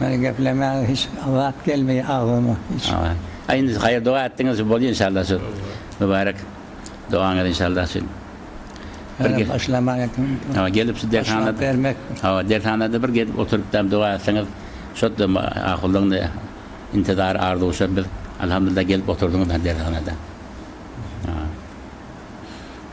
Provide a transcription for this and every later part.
Meniň geplemäge hiç zat gelmeýär agzyma hiç. Aý indi haýyr doga etdiňiz şu bolýa inşallah şu mübarek dogaňyz inşallah şu bir gel. Başlaman etdim. Hawa gelip şu dershana bermek. Hawa dershanada bir gelip oturyp dam doga etseňiz şodda ahullygyny intizar arzuwşa biz alhamdulillah gelip oturdyňyz dershana da.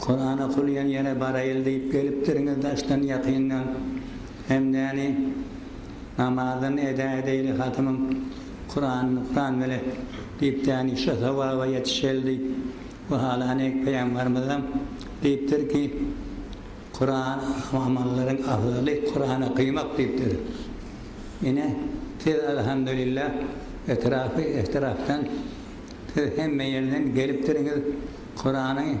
Kuran okulýan ýere baraýyl diýip gelipdiriňiz daşdan ýakyndan bendäni namazyny eda edeýli hatymyň Kuranyny Kuran bile diýip däni şo sogaba ýetişeli diýip we halany Peýambarymyzam diýipdir ki Kuran amallaryň afzaly Kuran okymak diýipdir ine siz alhamdulillah etrapy etrapdan siz hemme ýerden gelipdiriňiz Kurany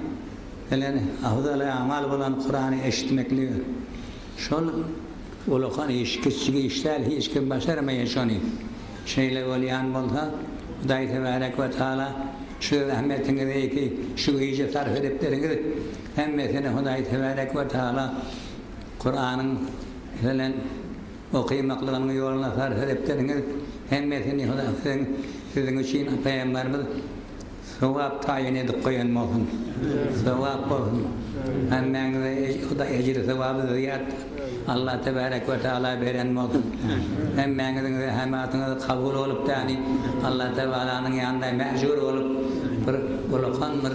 bilen afzaly-amal bolan Kurany eşitmekligi, şol ulakan iş, kiçijik iş däl, hiç kim başarmaýar şony. Şeýle bolýan bolsa, Hudaý Tebärek we Tagala çöl zähmetiňizi şu güýje sarp edipdiriňiz, hemmesini Hudaý Tebärek we Tagala Kuranyň bilen okymaklygynyň ýoluna sarp edipdiriňiz, hemmesini Hudaý siziň üçin Pygamberimiz, Sogap taýyn edip goýan bolsun. Sogap bolsun. Hemmäňize Hudaý ejri sogaby zyýat Allah tebarek we taala beren bolsun. Hemmäňiziň zähematyňyz kabul bolup däni Allah tebalanyň ýanynda mäjur bolup bir ulakan bir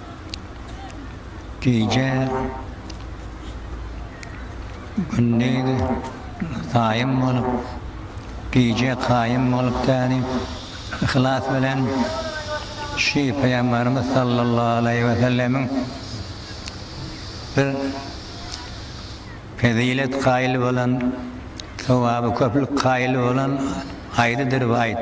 gije gündiz saýym bolup, gije kaýym bolup täni yhlas bilen şi Pygamberimiz sallallahu aleýhi we sellemiň bir fezilet kaýyl bolan, sowaby köplük kaýyl bolan aýdydyr bu aýt.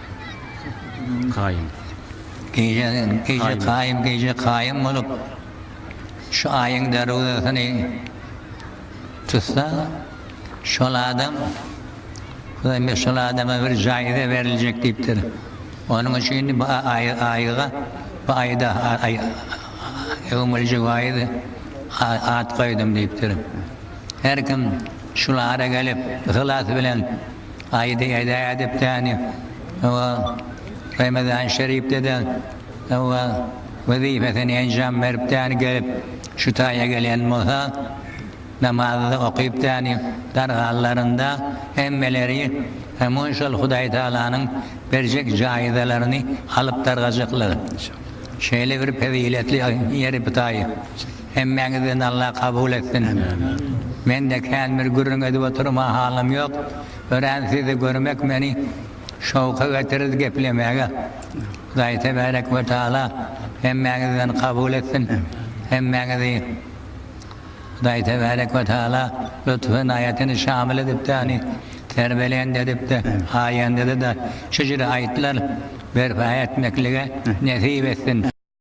Kaýym. Gije Gije Kaýym Gije Kaýym bolup şu aýyň derwzesyny tutsa şol adam Hudaýberdi şol adama bir jaýza beriljek diýipdir. Onuň üçin bu aýy aýyga bu aýda öwmüljek aýy at goýdum diýipdir. Her kim şul ara gelip yhlas bilen Aýdy edä edepdäni we Remezan Şeripde-de we wezipesini enjam beripdäni gelip, şu taýa gelen bolsa, namazy-da okypdäni dargalalarynda hemmeleri hemun şol Hudaý Tagalanyň berjek jaýzalaryny alyp dargajaklar. Şeýle bir peziletli ýeri bu taý. Hemmäňizden Alla kabul etsin. Mende kän bir gürrüň edip oturma halam ýok. Örän sizi görmek meni şowka getirirdi geplemäge. Hudaý tebärek we taala hemmäňizden kabul etsin. Hemmäňizi Hudaý tebärek we taala lutf ynaýatyny şamyl edipdi ani terbelend edipdi aýandada da şujr aýtlar berpa etmeklige nesip etsin.